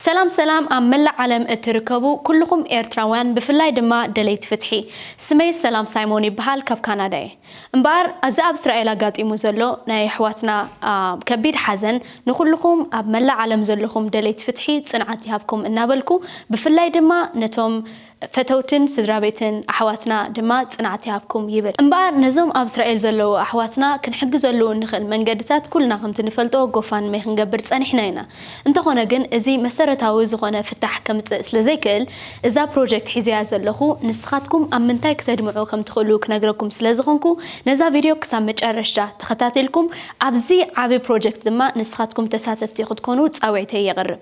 ሰላም ሰላም ኣብ መላእ ዓለም እትርከቡ ኩሉኹም ኤርትራውያን ብፍላይ ድማ ደለይቲ ፍትሒ ስመይ ሰላም ሳይሞን ይብሃል ካብ ካናዳ እየ እምበኣር ኣዚ ኣብ እስራኤል ኣጋጢሙ ዘሎ ናይ ኣሕዋትና ከቢድ ሓዘን ንኹሉኹም ኣብ መላእ ዓለም ዘለኹም ደለይቲ ፍትሒ ጽንዓት ይሃብኩም እናበልኩ ብፍላይ ድማ ነቶም ፈተውትን ስድራቤትን ኣሕዋትና ድማ ጽንዓት ይሃብኩም ይብል። እምበኣር ነዞም ኣብ እስራኤል ዘለዉ ኣሕዋትና ክንሕግዘሉ እንኽእል መንገድታት ኩልና ከምቲ ንፈልጦ ጎፋንሜ ክንገብር ጸኒሕና ኢና። እንተኾነ ግን እዚ መሰረታዊ ዝኾነ ፍታሕ ከምጽእ ስለ ዘይክእል እዛ ፕሮጀክት ሒዘያ ዘለኹ ንስኻትኩም ኣብ ምንታይ ክተድምዑ ከም ትኽእሉ ክነግረኩም ስለ ዝኾንኩ ነዛ ቪድዮ ክሳብ መጨረሽታ ተኸታቲልኩም ኣብዚ ዓቢ ፕሮጀክት ድማ ንስኻትኩም ተሳተፍቲ ክትኮኑ ጻዊዕተይ የቕርብ።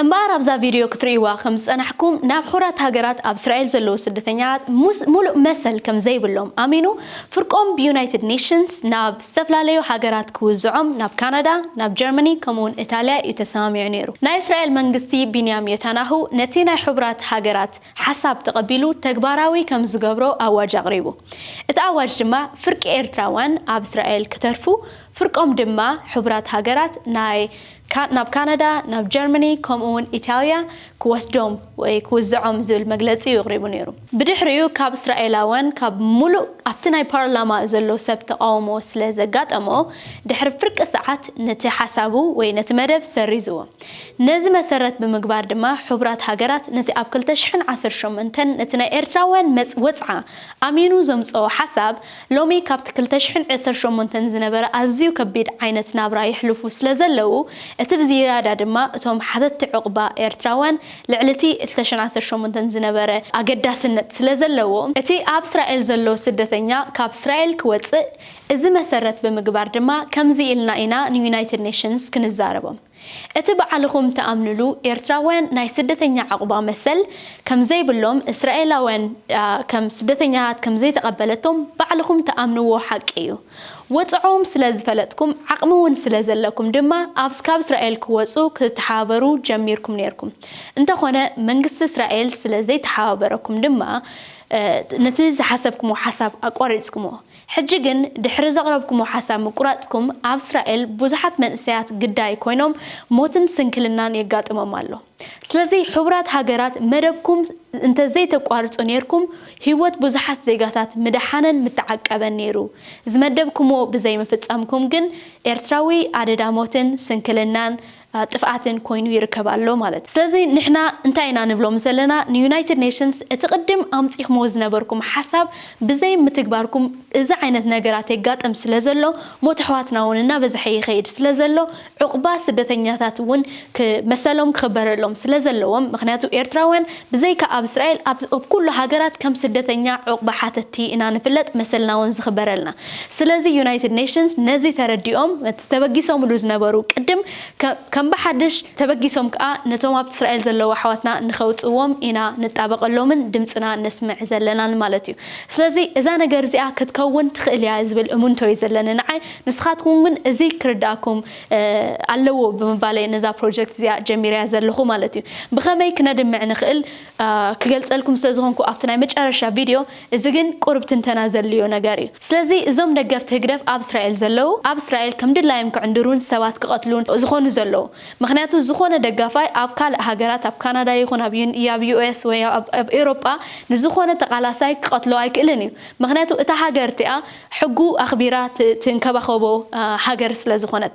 እምበኣር ኣብዛ ቪድዮ ክትርእይዋ ከም ዝጸናሕኩም ናብ ሑራት ሃገራት ኣብ እስራኤል ዘለዉ ስደተኛታት ሙስ ሙሉእ መሰል ከም ዘይብሎም ኣሚኑ ፍርቆም ብዩናይትድ ኔሽንስ ናብ ዝተፈላለዩ ሃገራት ክውዝዖም ናብ ካናዳ ናብ ጀርመኒ ከምኡ ውን እታልያ እዩ ተሰማሚዑ ነይሩ ናይ እስራኤል መንግስቲ ቢንያም ዮታናሁ ነቲ ናይ ሑብራት ሃገራት ሓሳብ ተቐቢሉ ተግባራዊ ከም ዝገብሮ ኣዋጅ ኣቕሪቡ እቲ ኣዋጅ ድማ ፍርቂ ኤርትራውያን ኣብ እስራኤል ክተርፉ ፍርቆም ድማ ሑብራት ሃገራት ናይ ናብ ካናዳ፣ ናብ ጀርመኒ ከምኡ'ውን ኢታልያ ክወስዶም ወይ ክውዝዖም ዝብል መግለጺ'ዩ ኣቕሪቡ ነይሩ። ብድሕሪኡ ካብ እስራኤላውያን ካብ ምሉእ ኣብቲ ናይ ፓርላማ ዘሎ ሰብ ተቓውሞ ስለ ዘጋጠሞ ድሕሪ ፍርቂ ሰዓት ነቲ ሓሳቡ ወይ ነቲ መደብ ሰሪዝዎ። ነዚ መሰረት ብምግባር ድማ ሕቡራት ሃገራት ነቲ ኣብ ክልተ ሽሕን ዓሰርተ ሸሞንተን ነቲ ናይ ኤርትራውያን መጽ ወጽዓ ኣሚኑ ዘምጽኦ ሓሳብ ሎሚ ካብቲ ክልተ ሽሕን ዕስር ሸሞንተን ዝነበረ ኣዝዩ ከቢድ ዓይነት ናብራ የሕልፉ ስለዘለዉ፣ እቲ ብዝያዳ ድማ እቶም ሓተቲ ዑቕባ ኤርትራውያን ልዕሊቲ ክልተ ሽሕን ዓሰርተ ሸሞንተን ዝነበረ ኣገዳስነት ስለዘለዎ፣ እቲ ኣብ እስራኤል ዘሎ ስደተኛ ካብ እስራኤል ክወጽእ እዚ መሰረት ብምግባር ድማ ከምዚ ኢልና ኢና ንዩናይትድ ኔሽንስ ክንዛረቦም። እቲ ባዕልኹም ትኣምንሉ ኤርትራውያን ናይ ስደተኛ ዕቑባ መሰል ከም ዘይብሎም እስራኤላውያን ከም ስደተኛታት ከም ዘይተቐበለቶም ባዕልኹም ትኣምንዎ ሓቂ እዩ። ወጽዕኦም ስለ ዝፈለጥኩም ዓቕሚ ውን ስለ ዘለኩም ድማ ኣብ ካብ እስራኤል ክወጹ ክትተሓባበሩ ጀሚርኩም ኔርኩም። እንተኾነ መንግስቲ እስራኤል ስለ ዘይተሓባበረኩም ድማ ነቲ ዝሓሰብክሞ ሓሳብ ኣቋሪጽክሞ። ሕጂ ግን ድሕሪ ዘቕረብኩሞ ሓሳብ ምቁራጽኩም ኣብ እስራኤል ብዙሓት መንእሰያት ግዳይ ኮይኖም ሞትን ስንክልናን የጋጥሞም ኣሎ ስለዚ ሕቡራት ሃገራት መደብኩም እንተ ዘይተቋርጹ ኔርኩም ሂወት ብዙሓት ዜጋታት ምደሓነን ምተዓቀበን ኔሩ ዝመደብኩሞ ብዘይምፍጻምኩም ግን ኤርትራዊ ኣደዳ ሞትን ስንክልናን ጥፍኣትን ኮይኑ ይርከብ ኣሎ ማለት ስለዚ ንሕና እንታይ ኢና ንብሎም ዘለና ንዩናይትድ ኔሽንስ እቲ ቅድም ኣምጺኽምዎ ዝነበርኩም ሓሳብ ብዘይ ምትግባርኩም እዚ ዓይነት ነገራት የጋጥም ስለዘሎ ሞት ኣሕዋትና ውን እናበዝሐ ይኸይድ ስለዘሎ ዑቕባ ስደተኛታት ውን መሰሎም ክኽበረሎም ስለዘለዎም ምኽንያቱ ኤርትራውያን ብዘይካ ኣብ እስራኤል ኣብ ኩሉ ሃገራት ከም ስደተኛ ዑቕባ ሓተቲ ኢና ንፍለጥ መሰልና ውን ዝኽበረልና ስለዚ ዩናይትድ ኔሽንስ ነዚ ተረዲኦም እቲ ተበጊሶምሉ ዝነበሩ ቅድም ከም ብሓድሽ ተበጊሶም ከኣ ነቶም ኣብ እስራኤል ዘለዉ ኣሕዋትና ንከውጽዎም ኢና ንጣበቀሎምን ድምጽና ነስምዕ ዘለናን ማለት እዩ ስለዚ እዛ ነገር እዚኣ ክትከውን ትክእል እያ ዝብል እሙንቶ እዩ ዘለኒ ንዓይ ንስካትኩም ግን እዚ ክርድኣኩም ኣለዎ ብምባል እየ ነዛ ፕሮጀክት እዚኣ ጀሚረያ ዘለኩ ማለት እዩ ብከመይ ክነድምዕ ንክእል ክገልጸልኩም ስለ ዝኮንኩ ኣብቲ ናይ መጨረሻ ቪድዮ እዚ ግን ቁሩብ ትንተና ዘድልዮ ነገር እዩ። ስለዚ እዞም ደገፍቲ ህግደፍ ኣብ እስራኤል ዘለዉ ኣብ እስራኤል ከም ድላዮም ክዕንድሩን ሰባት ክቐትሉን ዝኾኑ ዘለዉ። ምኽንያቱ ዝኾነ ደጋፋይ ኣብ ካልእ ሃገራት ኣብ ካናዳ ይኹን ኣብ ኣብ US ወይ ኣብ ኣብ ኤውሮጳ ንዝኾነ ተቓላሳይ ክቐትሎ ኣይክእልን እዩ። ምኽንያቱ እታ ሃገር እቲኣ ሕጉ ኣኽቢራ ትንከባኸቦ ሃገር ስለዝኾነት።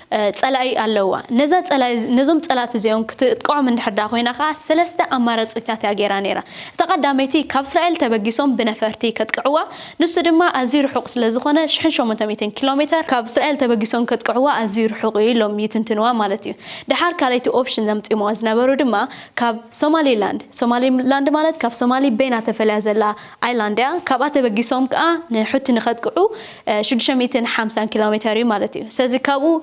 ጸላኢ ኣለዋ። ነዛ ጸላኢ ነዞም ጸላእቲ እዚኦም ክትጥቅዖም እንድሕር ደኣ ኮይና ከኣ ሰለስተ ኣማራጺታት እያ ገይራ ነይራ። እታ ቀዳመይቲ ካብ እስራኤል ተበጊሶም ብነፈርቲ ከጥቅዕዋ፣ ንሱ ድማ ኣዝዩ ርሑቕ ስለ ዝኾነ ሽሕን ሸሞንተ ሚእትን ኪሎ ሜተር ካብ እስራኤል ተበጊሶም ከጥቅዕዋ ኣዝዩ ርሑቕ እዩ ኢሎም ይትንትንዋ ማለት እዩ። ደሓር ካልኣይቲ ኦፕሽን ዘምጺምዋ ዝነበሩ ድማ ካብ ሶማሊ ላንድ፣ ሶማሊ ላንድ ማለት ካብ ሶማሊ በይና ተፈልያ ዘላ፣ ኣይላንድያ ካብኣ ተበጊሶም ከኣ ንሑቲ ንከጥቅዑ ሽዱሽተ ሚእትን ሓምሳን ኪሎሜተር እዩ ማለት እዩ ስለዚ ካብኡ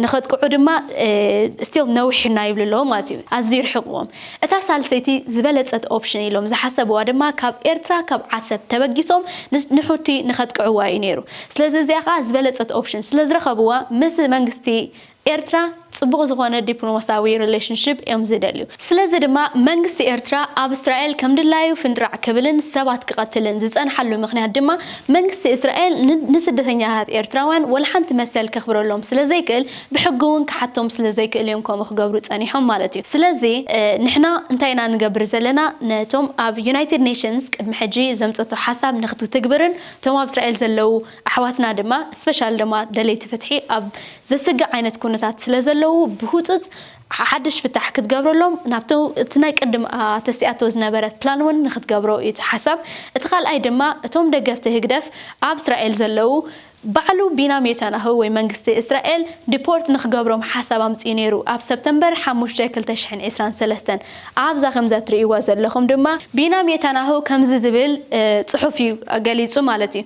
ንከጥቅዑ ድማ ስቲል ነዊሕ እና ይብሉ ኣለዉ ማለት እዩ ኣዝዩ ርሒቅዎም እታ ሳልሰይቲ ዝበለጸት ኦፕሽን ኢሎም ዝሓሰብዋ ድማ ካብ ኤርትራ ካብ ዓሰብ ተበጊሶም ንሑቲ ንከጥቅዕዋ እዩ ኔሩ ስለዚ እዚኣ ከኣ ዝበለጸት ኦፕሽን ስለዝረከብዋ ምስ መንግስቲ ኤርትራ ጽቡቕ ዝኾነ ዲፕሎማስያዊ ሪሌሽንሺፕ እዮም ዝደልዩ። ስለዚ ድማ መንግስቲ ኤርትራ ኣብ እስራኤል ከም ድላዩ ፍንጥራዕ ክብልን ሰባት ክቐትልን ዝጸንሓሉ ምኽንያት ድማ መንግስቲ እስራኤል ንስደተኛታት ኤርትራውያን ወላሓንቲ መሰል ከኽብረሎም ስለ ዘይክእል ብሕጊ ውን ክሓቶም ስለ ዘይክእል እዮም ከምኡ ክገብሩ ጸኒሖም ማለት እዩ። ስለዚ ንሕና እንታይ ኢና ንገብር ዘለና ነቶም ኣብ ዩናይትድ ኔሽንስ ቅድሚ ሕጂ ዘምጸቶ ሓሳብ ንኽትትግብርን እቶም ኣብ እስራኤል ዘለዉ ኣሕዋትና ድማ ስፐሻሊ ድማ ደለይቲ ፍትሒ ኣብ ዘስግእ ዓይነት ኩነታት ስለ ዘለዉ ብህጹጽ ሓድሽ ፍታሕ ክትገብረሎም ናብቲ እቲ ናይ ቅድም ኣተሲኣቶ ዝነበረት ፕላን እውን ንክትገብሮ እዩ እቲ ሓሳብ እቲ ካልኣይ ድማ እቶም ደገፍቲ ህግደፍ ኣብ እስራኤል ዘለዉ ባዕሉ ቢናም ዮታናሁ ወይ መንግስቲ እስራኤል ዲፖርት ንክገብሮም ሓሳብ ኣምጺኡ ነይሩ ኣብ ሰፕተምበር ሓሙሽተ ክልተ ሽሕን ዕስራን ሰለስተን ኣብዛ ከምዛ እትርእይዋ ዘለኹም ድማ ቢናም ዮታናሁ ከምዚ ዝብል ጽሑፍ እዩ ገሊጹ ማለት እዩ።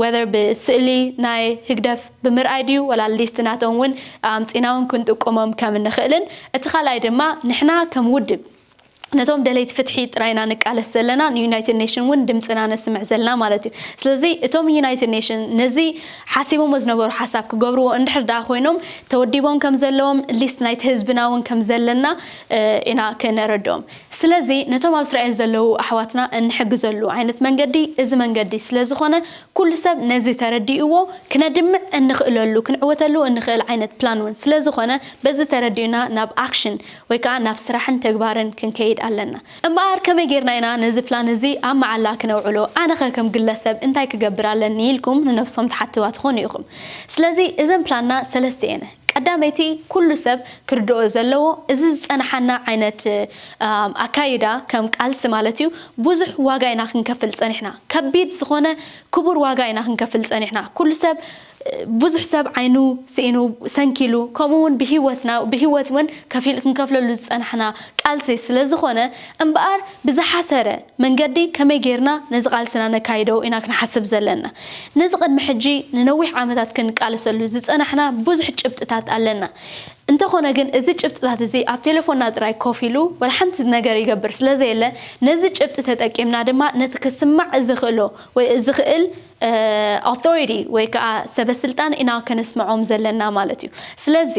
whether ብስእሊ ናይ ህግደፍ ብምርኣይ ድዩ ወላ ሊስት ናቶም ውን ኣምጺና ውን ክንጥቁሞም ከም እንኽእልን እቲ ካልኣይ ድማ ንሕና ከም ውድብ ነቶም ደለይቲ ፍትሒ ጥራይ ኢና ንቃለስ ዘለና ንዩናይትድ ኔሽን ውን ድምጽና ነስምዕ ዘለና ማለት እዩ ስለዚ እቶም ዩናይትድ ኔሽን ነዚ ሓሲቦሞ ዝነበሩ ሓሳብ ክገብርዎ እንድሕር ደኣ ኮይኖም ተወዲቦም ከም ዘለዎም ሊስት ናይቲ ህዝብና ውን ከም ዘለና ኢና ከነረድኦም ስለዚ ነቶም ኣብ እስራኤል ዘለዉ ኣሕዋትና እንሕግዘሉ ዓይነት መንገዲ እዚ መንገዲ ስለ ዝኾነ ኩሉ ሰብ ነዚ ተረዲእዎ ክነድምዕ እንኽእለሉ ክንዕወተሉ እንኽእል ዓይነት ፕላን ውን ስለ ዝኾነ በዚ ተረዲኡና ናብ ኣክሽን ወይ ከኣ ናብ ስራሕን ተግባርን ክንከይድ ኣለና እምበኣር ከመይ ጌርና ኢና ነዚ ፕላን እዚ ኣብ መዓላ ክነውዕሎ ኣነኸ ከም ግለሰብ እንታይ ክገብር ኣለኒ ኢልኩም ንነብሶም ትሓትዋ ትኾኑ ኢኹም ስለዚ እዘን ፕላንና ሰለስተ እየን ቀዳመይቲ ኩሉ ሰብ ክርድኦ ዘለዎ እዚ ዝጸናሓና ዓይነት ኣካይዳ ከም ቃልሲ ማለት እዩ ብዙሕ ዋጋ ኢና ክንከፍል ጸኒሕና ከቢድ ዝኾነ ክቡር ዋጋ ኢና ክንከፍል ጸኒሕና ኩሉ ሰብ ብዙሕ ሰብ ዓይኑ ስኢኑ ሰንኪሉ ከምኡ ውን ብሂወትና ብሂወት ውን ከፊል ክንከፍለሉ ዝጸናሕና ቃልሲ ስለዝኾነ እምበኣር ብዝሓሰረ መንገዲ ከመይ ገይርና ነዚ ቃልስና ነካይዶ ኢና ክንሓስብ ዘለና። ነዚ ቅድሚ ሕጂ ንነዊሕ ዓመታት ክንቃለሰሉ ዝጸናሕና ብዙሕ ጭብጥታት ኣለና። እንተኾነ ግን እዚ ጭብጥታት እዚ ኣብ ቴለፎንና ጥራይ ኮፍ ኢሉ ወላ ሓንቲ ነገር ይገብር ስለዘየለ ነዚ ጭብጢ ተጠቂምና ድማ ነቲ ክስማዕ ዝኽእሎ ወይ ዝኽእል Authority ወይ ከኣ ሰበስልጣን ኢና ከነስምዖም ዘለና ማለት እዩ። ስለዚ።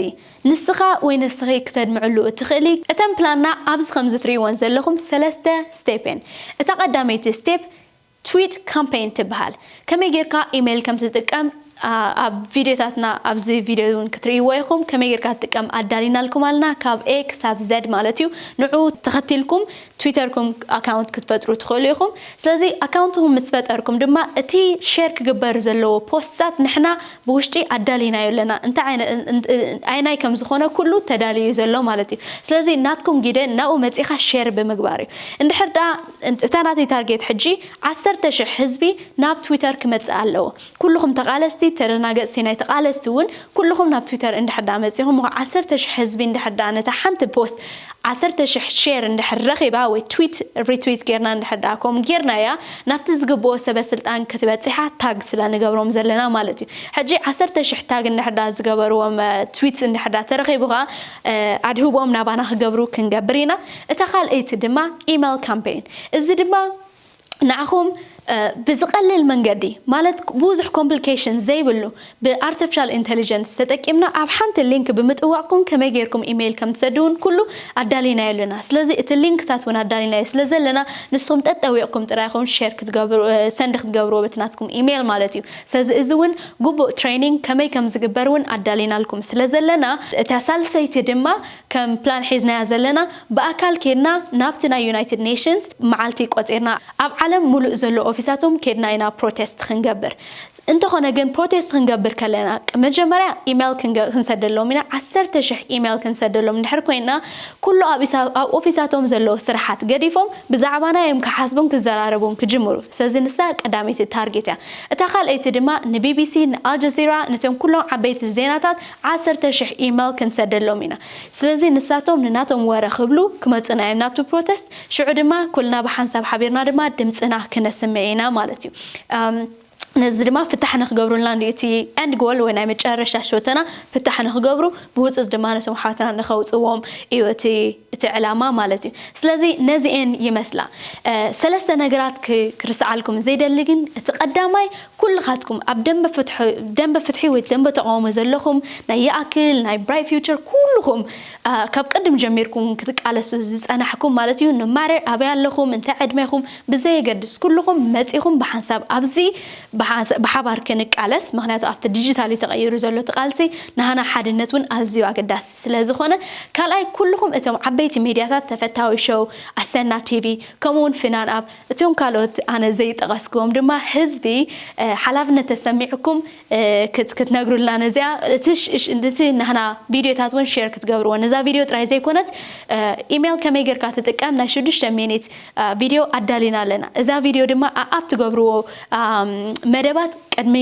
ንስኻ ወይ ንስኺ ክተድምዕሉ እትኽእሊ እተን ፕላንና ኣብዚ ከምዚ ትርእይወን ዘለኹም ሰለስተ ስቴፕ እየን። እታ ቀዳመይቲ ስቴፕ ትዊት ካምፐይን ትብሃል። ከመይ ጌርካ ኢመይል ከም ትጥቀም ኣብ ቪድዮታትና ኣብዚ ቪድዮ እውን ክትርእይዎ ኢኹም። ከመይ ጌርካ ትጥቀም ኣዳሊናልኩም ኣለና ካብ A ክሳብ Z ማለት እዩ። ንዕኡ ተኸቲልኩም ትዊተርኩም ኣካውንት ክትፈጥሩ ትኽእሉ ኢኹም። ስለዚ ኣካውንትኹም ምስ ፈጠርኩም ድማ እቲ ሼር ክግበር ዘለዎ ፖስትታት ንሕና ብውሽጢ ኣዳሊናዮ ኣለና። እንታይ ኣየናይ ከም ዝኾነ ኩሉ ተዳልዩ እዩ ዘሎ ማለት እዩ። ስለዚ ናትኩም ግደ ናብኡ መጺኻ ሼር ብምግባር እዩ። እንድሕር ደኣ እታ ናተይ ታርጌት ሕጂ ዓሰርተ ሽሕ ህዝቢ ናብ ትዊተር ክመጽእ ኣለዎ። ኩሉኹም ተቓለስቲ ተደናገጽቲ ናይ ተቓለስቲ ውን ኩሉኹም ናብ ትዊተር እንድሕር ድኣ መጺኹም እኮ ዓሰርተ ሽሕ ህዝቢ እንድሕር ድኣ ነታ ሓንቲ ፖስት ዓሰርተ ሽሕ ሼር እንድሕር ረኺባ ወይ ትዊት ሪትዊት ጌርና እንድሕር ድኣ ከምኡ ጌርናያ ናብቲ ዝግብኦ ሰበ ስልጣን ክትበጺሓ ታግ ስለ ንገብሮም ዘለና ማለት እዩ ሕጂ ዓሰርተ ሽሕ ታግ እንድሕር ድኣ ዝገበርዎም ትዊት እንድሕር ድኣ ተረኺቡ ከኣ ኣድህቦኦም ናባና ክገብሩ ክንገብር ኢና እታ ካልኣይቲ ድማ ኢመል ካምፔይን እዚ ድማ ንዓኹም ብዝቐልል መንገዲ ማለት ብዙሕ ኮምፕሊኬሽን ዘይብሉ ብኣርተፍሻል ኢንተሊጀንስ ተጠቂምና ኣብ ሓንቲ ሊንክ ብምጥዋቕኩም ከመይ ጌርኩም ኢመይል ከም ትሰዱ ውን ኩሉ ኣዳሊናዮ ኣለና ስለዚ እቲ ሊንክታት ውን ኣዳሊናዮ ስለ ዘለና ንስኹም ጠጠዊቕኩም ጥራይ ኢኹም ሼር ክትገብሩ ሰንድ ክትገብርዎ በቲ ናትኩም ኢመይል ማለት እዩ ስለዚ እዚ ውን ግቡእ ትሬኒንግ ከመይ ከም ዝግበር ውን ኣዳሊናልኩም ስለ ዘለና እታ ሳልሰይቲ ድማ ከም ፕላን ሒዝናያ ዘለና ብኣካል ኬድና ናብቲ ናይ ዩናይትድ ኔሽንስ መዓልቲ ቆጺርና ኣብ ዓለም ምሉእ ዘሎ ኦፊሳቶም ኬድና ኢና ፕሮቴስት ክንገብር። እንተኾነ ግን ፕሮቴስት ክንገብር ከለና መጀመርያ ኢሜይል ክንሰደሎም ኢና ዓሰርተ ሽሕ ኢሜይል ክንሰደሎም እንድሕር ኮይንና ኩሉ ኣብ ኣብ ኦፊሳቶም ዘሎ ስራሓት ገዲፎም ብዛዕባና እዮም ክሓስቡን ክዘራረቡን ክጅምሩ ስለዚ ንሳ ቀዳመይቲ ታርጌት እያ እታ ካልኣይቲ ድማ ንቢቢሲ ንኣልጀዚራ ነቶም ኩሎም ዓበይቲ ዜናታት ዓሰርተ ሽሕ ኢመል ክንሰደሎም ኢና ስለዚ ንሳቶም ንናቶም ወረ ክብሉ ክመጹና ኢዮም ናብቲ ፕሮተስት ሽዑ ድማ ኩልና ብሓንሳብ ሓቢርና ድማ ድምጽና ክነስምዕ ኢና ማለት ኢዩ ነዚ ድማ ፍታሕ ንክገብሩልና እንድዩ እቲ end goal ወይ ናይ መጨረሻ ሸቶና ፍታሕ ንክገብሩ ብህጹጽ ድማ ነቶም ኣሕዋትና ንከውጽዎም ኢዩ እቲ እቲ ዕላማ ማለት እዩ ስለዚ ነዚኤን ይመስላ ሰለስተ ነገራት ክርስዓልኩም ዘይደሊ ግን እቲ ቀዳማይ ኩልኻትኩም ኣብ ደምበ ፍትሑ ደምበ ፍትሒ ወይ ደምበ ተቃውሞ ዘለኹም ናይ ይኣክል ናይ ብራይት ፊውቸር ኩልኹም ካብ ቅድም ጀሚርኩም ክትቃለሱ ዝጸናሕኩም ማለት እዩ ኖማረር ኣበይ ኣለኹም እንታይ ዕድሜኹም ብዘየገድስ ኩልኹም መጺኹም ብሓንሳብ ኣብዚ ብሓባር ክንቃለስ ምክንያቱ ኣብቲ ዲጂታል እዩ ተቐይሩ ዘሎ እቲ ቃልሲ ናሃና ሓድነት ውን ኣዝዩ ኣገዳሲ ስለ ዝኾነ ካልኣይ ኩሉኹም እቶም ዓበይቲ ሚድያታት ተፈታዊ ሸው ኣሰና ቲቪ ከምኡ ውን ፍናን ኣብ እቶም ካልኦት ኣነ ዘይጠቐስክዎም ድማ ህዝቢ ሓላፍነት ተሰሚዑኩም ክትነግሩልና ነዚኣ እቲ ናህና ቪድዮታት ውን ሼር ክትገብርዎ ነዛ ቪድዮ ጥራይ ዘይኮነት ኢሜል ከመይ ጌርካ ትጥቀም ናይ ሽዱሽተ ሚኒት ቪድዮ ኣዳሊና ኣለና እዛ ቪድዮ ድማ ኣኣብ ትገብርዎ መደባት ቅድሚ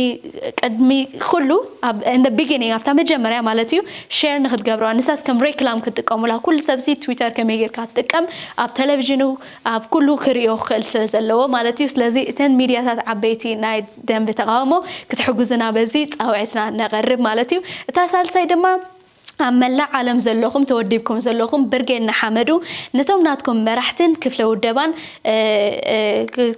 ቅድሚ ኩሉ ኣብ in the beginning ኣብታ መጀመርያ ማለት እዩ ሼር ንክትገብርዋ ንሳስ ከም ሬክላም ክትጥቀሙላ ኩሉ ሰብሲ ትዊተር ከመይ ጌርካ ትጥቀም ኣብ ቴሌቪዥኑ ኣብ ኩሉ ክርእዮ ክኽእል ስለ ዘለዎ ማለት እዩ ስለዚ እተን ሚድያታት ዓበይቲ ናይ ደንብ ተቃውሞ ክትሕግዙና በዚ ጻውዒትና ነቀርብ ማለት እዩ እታ ሳልሳይ ድማ ኣብ መላእ ዓለም ዘለኹም ተወዲብኩም ዘለኹም ብርጌድ ንሓመዱ ነቶም ናትኩም መራሕትን ክፍለ ውደባን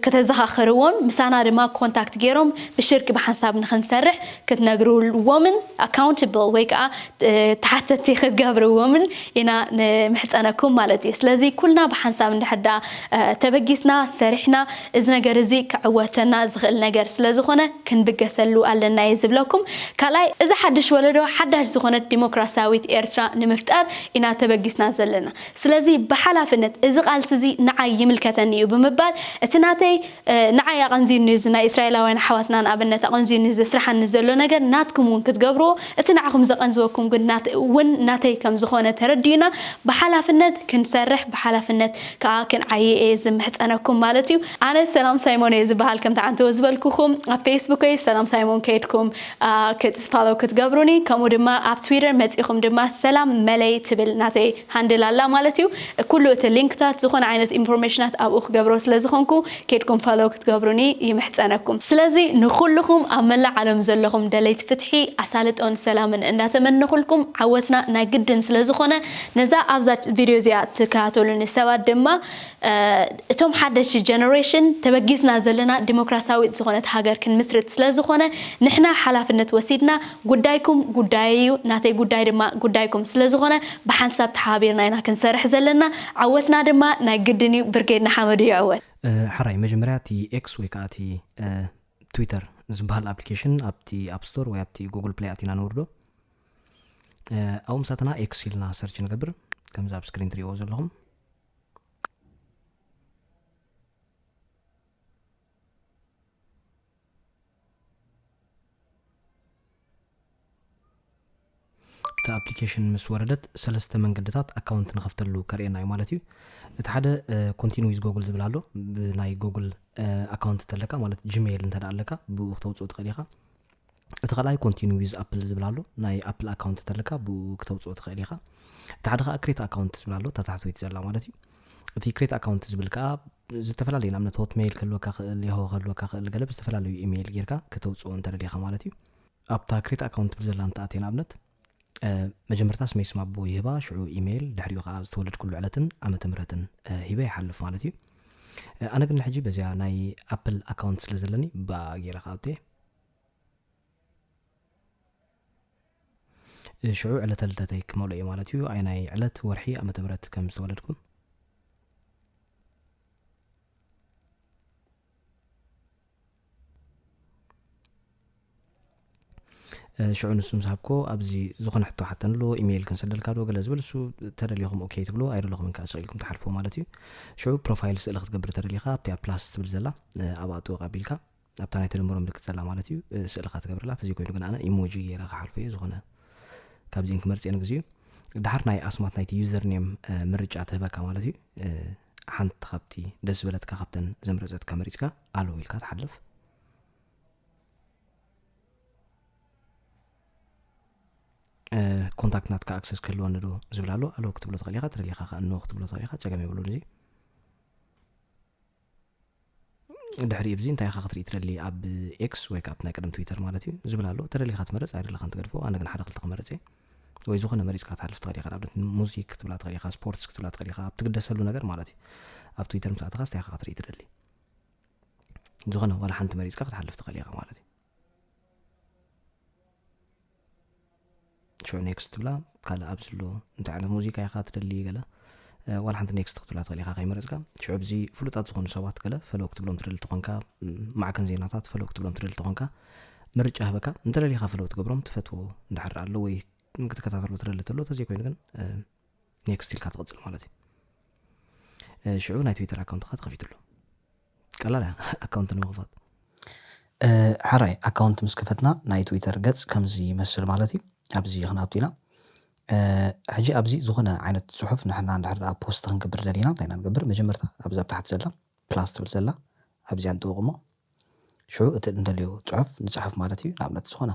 ከተዘኻኽርዎን ምሳና ድማ ኮንታክት ጌሮም ብሽርኪ ብሓንሳብ ንኽንሰርሕ ክትነግርዎምን ኣካውንትብል ወይ ከኣ ተሓተቲ ክትገብርዎምን ኢና ንምሕጸነኩም ማለት እዩ። ስለዚ ኩልና ብሓንሳብ እንድሕር ደኣ ተበጊስና ሰሪሕና እዚ ነገር እዚ ከዕወተና ዝኽእል ነገር ስለዝኾነ ክንብገሰሉ ኣለና እየ ዝብለኩም። ካልኣይ እዚ ሓድሽ ወለዶ ሓዳሽ ዝኾነት ዲሞክራሲያዊት ኤርትራ ንምፍጣር ኢና ተበጊስና ዘለና። ስለዚ ብሓላፍነት እዚ ቃልሲ እዚ ንዓይ ይምልከተኒ እዩ ብምባል እቲ ናተይ ንዓይ ኣቐንዝዩኒ እዚ ናይ እስራኤላውያን ኣሕዋትና ንኣብነት ኣቐንዝዩኒ ዘስርሓኒ ዘሎ ነገር ናትኩም እውን ክትገብርዎ እቲ ንዓኹም ዘቐንዝወኩም ግን እውን ናተይ ከምዝኾነ ተረዲኡና ብሓላፍነት ክንሰርሕ ብሓላፍነት ከኣ ክንዓዪ እየ ዝምሕጸነኩም ማለት እዩ። ኣነ ሰላም ሳይሞን እየ ዝበሃል ከምቲ ዓንተቦ ዝበልኩኹም ኣብ ፌስቡከይ ሰላም ሳይሞን ከይድኩም ክት ፋሎው ክትገብሩኒ ከምኡ ድማ ኣብ ትዊተር መጺኹም ድማ ሰላም መለይ ትብል ናተይ ሃንድል ኣላ ማለት እዩ ኩሉ እቲ ሊንክታት ዝኾነ ዓይነት ኢንፎርሜሽናት ኣብኡ ክገብሮ ስለ ዝኾንኩ ከይድኩም ፋሎው ክትገብሩኒ ይምሕጸነኩም። ስለዚ ንኹሉኹም ኣብ መላእ ዓለም ዘለኹም ደለይቲ ፍትሒ፣ ኣሳልጦን ሰላምን እንዳተመነኹልኩም ዓወትና ናይ ግድን ስለ ዝኾነ ነዛ ኣብዛ ቪድዮ እዚኣ ትከታተሉኒ ሰባት ድማ እቶም ሓደሽቲ ጀነሬሽን ተበጊስና ዘለና ዲሞክራሲያዊት ዝኾነት ሃገር ክንምስርት ስለ ዝኾነ ንሕና ሓላፍነት ወሲድና ጉዳይኩም ጉዳየይ እዩ ናተይ ጉዳይ ድማ ጉዳይኩም ስለ ዝኾነ ብሓንሳብ ተሓባቢርና ኢና ክንሰርሕ ዘለና ዓወትና ድማ ናይ ግድን እዩ ብርጌድ ንሓመዱ ይዕወት። ሐራይ መጀመርያ እቲ ኤክስ ወይ ከኣ እቲ ትዊተር ዝብሃል ኣፕሊኬሽን ኣብቲ ኣፕ ስቶር ወይ ኣብቲ ጎግል ፕለይ ኣቲና ነውርዶ ኣብኡ ምሳትና ኤክስ ኢልና ሰርች ንገብር ከምዚ ኣብ ስክሪን ትሪእዎ ዘለኹም እቲ ኣፕሊኬሽን ምስ ወረደት ሰለስተ መንገድታት ኣካውንት ንኸፍተሉ ከርእየና እዩ ማለት እዩ እቲ ሓደ ኮንቲኒ ዊዝ ጎግል ዝብል ኣሎ ብናይ ጎግል ኣካውንት እንተለካ ማለት ጂሜይል እንተ ኣለካ ብኡ ክተውፅኡ ትኽእል ኢኻ እቲ ካልኣይ ኮንቲኒ ዊዝ ኣፕል ዝብል ኣሎ ናይ ኣፕል ኣካውንት ተለካ ብኡ ክተውፅኦ ትኽእል ኢኻ እቲ ሓደ ከዓ ክሬት ኣካውንት ዝብል ኣሎ ተታሕትወይቲ ዘላ ማለት እዩ እቲ ክሬት ኣካውንት ዝብል ከዓ ዝተፈላለዩ ንኣብነት ሆትሜይል ክህልወካ ክእል ያሆ ክህልወካ ክእል ገለ ብዝተፈላለዩ ኢሜይል ጌርካ ከተውፅኦ እንተደሊኻ ማለት እዩ ኣብታ ክሬት ኣካውንት ትብል ዘላ እንተኣትየ ንኣብነት መጀመርታ ስመይ ስም ኣቦ ይህባ ሽዑ ኢሜይል ድሕሪኡ ከዓ ዝተወለድኩሉ ዕለትን ዓመተ ምህረትን ሂበ ይሓልፍ ማለት እዩ ኣነ ግን ሕጂ በዚኣ ናይ ኣፕል ኣካውንት ስለ ዘለኒ ብኣ ገይረ ከዓ ኣውጥየ ሽዑ ዕለተ ልደተይ ክመልኦ እዩ ማለት እዩ ኣይ ናይ ዕለት ወርሒ ዓመተ ምህረት ከም ዝተወለድኩ ሽዑ ንሱ ምስ ሃብኮ ኣብዚ ዝኾነ ሕቶ ሓተን ኣሎ ኢሜይል ክንሰደልካ ዶ ገለ ዝብል እሱ ተደሊኹም ኦኬ ትብሎ ኣይደለኹምን ከዓ ስቕ ኢልኩም ትሓልፍዎ ማለት እዩ ሽዑ ፕሮፋይል ስእሊ ክትገብር ተደሊኻ ኣብቲ ኣብ ፕላስ ትብል ዘላ ኣብኣ ጥወቕ ኣቢልካ ኣብታ ናይ ተደምሮ ምልክት ዘላ ማለት እዩ ስእልኻ ትገብርላ ተዘይ ኮይኑ ግን ኣነ ኢሞጂ ገይረ ክሓልፎ እዩ ዝኾነ ካብዚን ክመርፅ ንግዚ እዩ ድሓር ናይ ኣስማት ናይቲ ዩዘር ኔም ምርጫ ትህበካ ማለት እዩ ሓንቲ ካብቲ ደስ ዝበለትካ ካብተን ዘምረፀትካ መሪፅካ ኣለዉ ኢልካ ትሓልፍ ኮንታክት ናትካ ኣክሰስ ክህልወኒ ዶ ዝብል ኣሎ ኣለዎ ክትብሎ ትኽእል ኢኻ ትደሊኻ ከዓ እንሆ ክትብሎ ትኽእል ኢኻ ፀገም የብሉን እዚ ድሕሪ እብዚ እንታይ ኢኻ ክትርኢ ትደሊ ኣብ ኤክስ ወይ ካብቲ ናይ ቀደም ትዊተር ማለት እዩ ዝብል ኣሎ ተደሊኻ ትመርፅ ኣይደለኻን ትገድፎ ኣነ ግን ሓደ ክልተ ክመርፅ እየ ወይ ዝኾነ መሪፅካ ትሃልፍ ትኽእል ኢኻ ንኣብነት ሙዚክ ክትብላ ትኽእል ኢኻ ስፖርትስ ክትብላ ትኽእል ኢኻ ኣብ ትግደሰሉ ነገር ማለት እዩ ኣብ ትዊተር ምስ ኣተኻ ስታይ ኢኻ ክትርኢ ትደሊ ዝኾነ ዋላ ሓንቲ መሪፅካ ክትሓልፍ ትኽእል ኢኻ ማለት እዩ ሾ ኔክስት ትብላ ካልእ ኣብዚ ኣሎ እንታይ ዓይነት ሙዚቃ ኢኻ ትደሊ ገለ ዋላ ሓንቲ ኔክስት ክትብላ ትኽእል ኢኻ ከይመረፅካ ሽዑ ብዚ ፍሉጣት ዝኾኑ ሰባት ገለ ፈለዎ ክትብሎም ትደሊ ተኾንካ ማዕከን ዜናታት ፈለዎ ክትብሎም ትደሊ ተኾንካ ምርጫ ህበካ እንተደሊኻ ፈለዎ ትገብሮም ትፈትዎ እንዳሕር ኣሎ ወይ ክትከታተሉ ትደሊ ተሎ ተዘይኮይኑ ግን ኔክስት ኢልካ ትቕፅል ማለት እዩ ሽዑ ናይ ትዊተር ኣካውንትካ ተኸፊትሉ ቀላል እያ ኣካውንት ንምኽፋት ሓራይ ኣካውንት ምስ ከፈትና ናይ ትዊተር ገጽ ከምዚ ይመስል ማለት እዩ ኣብዚ ክንኣቱ ኢና ሕጂ ኣብዚ ዝኾነ ዓይነት ጽሑፍ ንሕና እንድሕር ኣብ ፖስት ክንገብር ደሊና እንታይ ኢና ንገብር መጀመርታ ኣብዚ ኣብ ታሕቲ ዘላ ፕላስ ትብል ዘላ ኣብዚኣ ንጥውቕሞ ሽዑ እቲ እንደልዮ ጽሑፍ ንጽሕፍ ማለት እዩ ንኣብነት ዝኾነ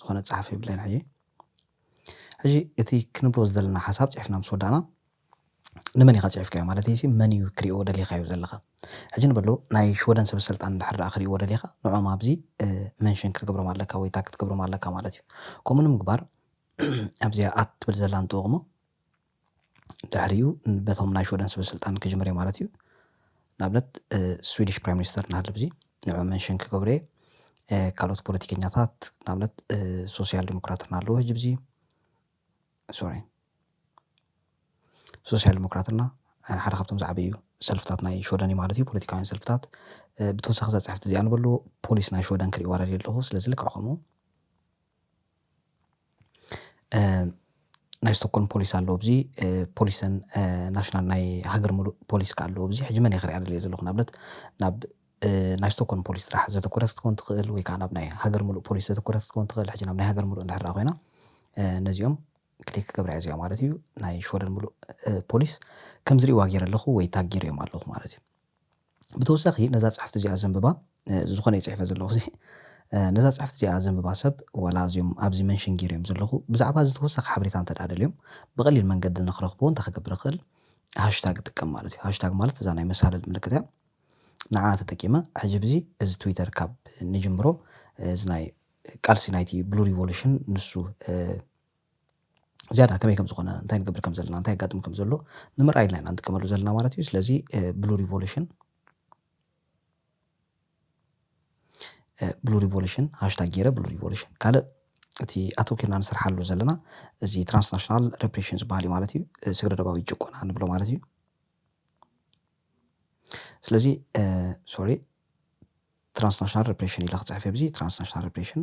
ዝኾነ ጸሓፊ ብለን ሕጂ ሕጂ እቲ ክንብሎ ዝደለና ሓሳብ ጽሒፍና ምስ ወዳእና ንመን ኢኻ ጽሒፍካዮ ማለተይሲ መን እዩ ክሪኦ ደሊኻዮ ዘለኻ ሕጂ ንበሎ ናይ ሽወደን ሰበሰልጣን እንድሕር ደኣ ክሪእዎ ደሊኻ ንዕኦም ኣብዚ መንሽን ክትገብሮም ኣለካ ወይ ታግ ክትገብሮም ኣለካ ማለት እዩ ከምኡ ንምግባር ኣብዚኣ ኣት ትብል ዘላ ንጥወቕ እሞ ድሕሪኡ በቶም ናይ ሽወደን ሰበ ስልጣን ክጅምር እየ ማለት እዩ። ንኣብነት ስዊዲሽ ፕራይም ሚኒስተር እናሃለወ ብዚ ንዑ መንሽን ክገብሮ እየ። ካልኦት ፖለቲከኛታት ንኣብነት ሶስያል ዲሞክራት እናሃለወ ህጂ ብዚ ሶሪ ሶስያል ዲሞክራት እና ሓደ ካብቶም ዝዓበዩ ሰልፍታት ናይ ሽወደን እዩ ማለት እዩ። ፖለቲካውያን ሰልፍታት ብተወሳኺ እዛ ጽሕፍቲ እዚ ኣንብበሉ ፖሊስ ናይ ሽወደን ክርእይዋ ደልየ ኣለኹ። ስለዚ ልክዕ ከምኡ ናይ ስቶኮልም ፖሊስ ኣሎ ኣብዚ ፖሊሰን ናሽናል ናይ ሃገር ምሉእ ፖሊስ ክኣ ኣሎ ኣብዚ ሕጂ መን ኢየ ክሪኣ ደልየ ዘለኩ ንኣብነት ናብ ናይ ስቶኮልም ፖሊስ ጥራሕ ዘተኮረት ክትከውን ትክእል ወይ ክኣ ናብ ናይ ሃገር ምሉእ ፖሊስ ዘተኮረት ክትከውን ትክእል ሕጂ ናብ ናይ ሃገር ምሉእ እንድሕር ኮይና ነዚኦም ክሊክ ክገብራ ኢየ እዚኣ ማለት ኢዩ ናይ ሽወደን ምሉእ ፖሊስ ከምዚ ሪእዋ ገይረ ኣለኩ ወይ ታግ ገይረዮም ኣለኩ ማለት ኢዩ። ብተወሳኺ ነዛ ጽሕፍቲ እዚኣ ዘንብባ ዝኾነ እዩ ጽሒፈ ዘለኹሲ ነዛ ጽሕፍቲ እዚኣ ዘንብባ ሰብ ዋላ እዚኦም ኣብዚ መንሽን ጌረዮም ዘለኹ ብዛዕባ እዚ ተወሳኺ ሓበሬታ እንተ ደኣ ደልዮም ብቐሊል መንገዲ ንኽረኽብዎ እንታይ ክገብር እኽእል ሃሽታግ እጥቀም ማለት እዩ ሃሽታግ ማለት እዛ ናይ መሳልል ምልክት እያ ንዓኣ ተጠቂመ ሕጂ ብዚ እዚ ትዊተር ካብ ንጅምሮ እዚ ናይ ቃልሲ ናይቲ ብሉ ሪቮሉሽን ንሱ ዝያዳ ከመይ ከም ዝኾነ እንታይ ንገብር ከም ዘለና እንታይ የጋጥም ከም ዘሎ ንምርኣይ ኢልና ኢና ንጥቀመሉ ዘለና ማለት እዩ ስለዚ ብሉ ሪቮሉሽን ብሉ ሪቮሉሽን ሃሽታግ ገይረ ብሉ ሪቮሉሽን ካልእ እቲ ኣተውኪርና ንሰርሓሉ ዘለና እዚ ትራንስናሽናል ሬፕሬሽን ዝበሃል እዩ ማለት እዩ ስግረ ደባዊ ጭቆና ንብሎ ማለት እዩ ስለዚ ሶሪ ትራንስናሽናል ሬፕሬሽን ኢለ ክፅሕፍ እየ ብዚ ትራንስናሽናል ሬፕሬሽን